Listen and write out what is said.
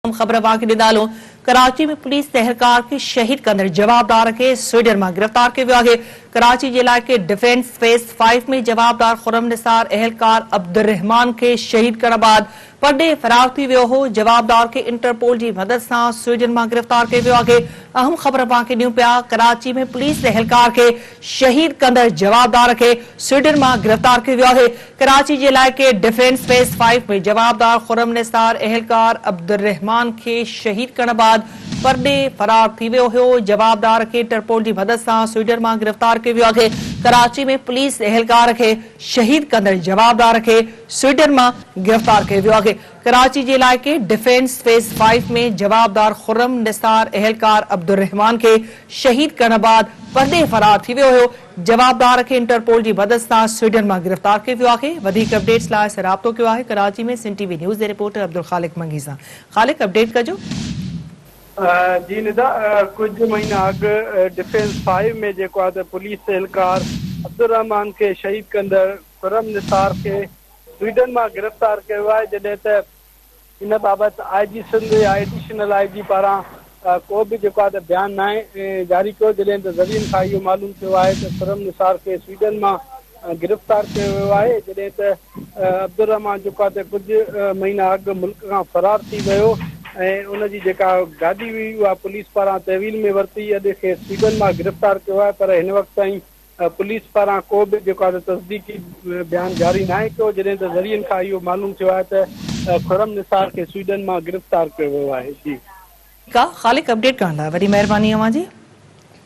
اهم خبر اوهان کي ڏيندالو ڪراچي ۾ پوليس تهرڪار کي شهيد ڪندڙ جوابدار کي سوئيڊن مان گرفتار ڪيو ويو آهي ڪراچي جي علائقي ڊفينس فيس فائيو ۾ جوابدار خرم نثار اهلڪار عبدالرحمان کي شهيد ڪرڻ بعد پرڏيهه فرار ٿي ويو هو جوابدار کي انٽرپول جي مدد سان سوئيڊن مان گرفتار ڪيو ويو آهي اهم خبر اوهان کي ڏيون پيا ڪراچي ۾ پوليس اهلڪار کي شهيد ڪندڙ جوابدار کي سوئيڊن مان گرفتار ڪيو ويو آهي ڪراچي جي علائقي ڊفينس فيس فائيو ۾ جوابدار خرم نثار اهلڪار عبدالرحمان کي شهيد ڪرڻ بعد پرڏيهه فرار ٿي ويو هيو، جوابدار کي انٽرپول جي مدد سان سوئيڊن مان گرفتار ڪيو ويو آهي، ڪراچي ۾ پوليس اهلڪار کي شهيد ڪندڙ جوابدار کي سوئيڊن مان گرفتار ڪيو ويو آهي، ڪراچي جي علائقي ڊفينس فيس فائيو ۾ جوابدار خرم نثار اهلڪار عبدالرحمان کي شهيد ڪرڻ بعد پرڏيهه فرار ٿي ويو هيو، جوابدار کي انٽرپول جي مدد سان سوئيڊن مان گرفتار ڪيو ويو آهي. وڌيڪ اپڊيٽس لاء اسين رابطو ڪيو آهي Karachi ۾ Sindh T V news جي رپورٽر عبدالخالق منگي سان خالق اپڊيٽ ڪجو. جي ندا ڪجهه مهينا اڳ ڊفينس فائيو ۾ جيڪو آهي ته پوليس اهلڪار عبدالرحمان کي شهيد ڪندڙ خرم نثار کي سوئيڊن مان گرفتار ڪيو ويو آهي جڏهن ته ان بابت آء جي سنڌ يا ايڊيشنل آء جي پاران ڪو به جيڪو آهي ته بيان ناهي جاري ڪيو جڏهن ته ذريعن کان اهو معلوم ٿيو آهي ته خرم نثار کي سويڊن مان گرفتار ڪيو ويو آهي جڏهن ته عبدالرحمان جيڪو آهي ته ڪجهه مهينا اڳ ملڪ کان فرار ٿي ويو ۽ ان جي جيڪا گاڏي هئي اها پوليس پاران تحويل ۾ ورتي اڄ کيس سويڊن مان گرفتار ڪيو آهي پر هن وقت تائين پوليس پاران ڪو به جيڪو آهي تصديقي بيان جاري ناهي ڪيو جڏهن ته ذريعن کان اهو معلوم ٿيو آهي ته خرم نثار کي سوئيڊن مان گرفتار ڪيو ويو آهي جي. ٺيڪ آ خالق اپڊيٽ ڪرڻ لاء وڏي مهرباني اوهان جي.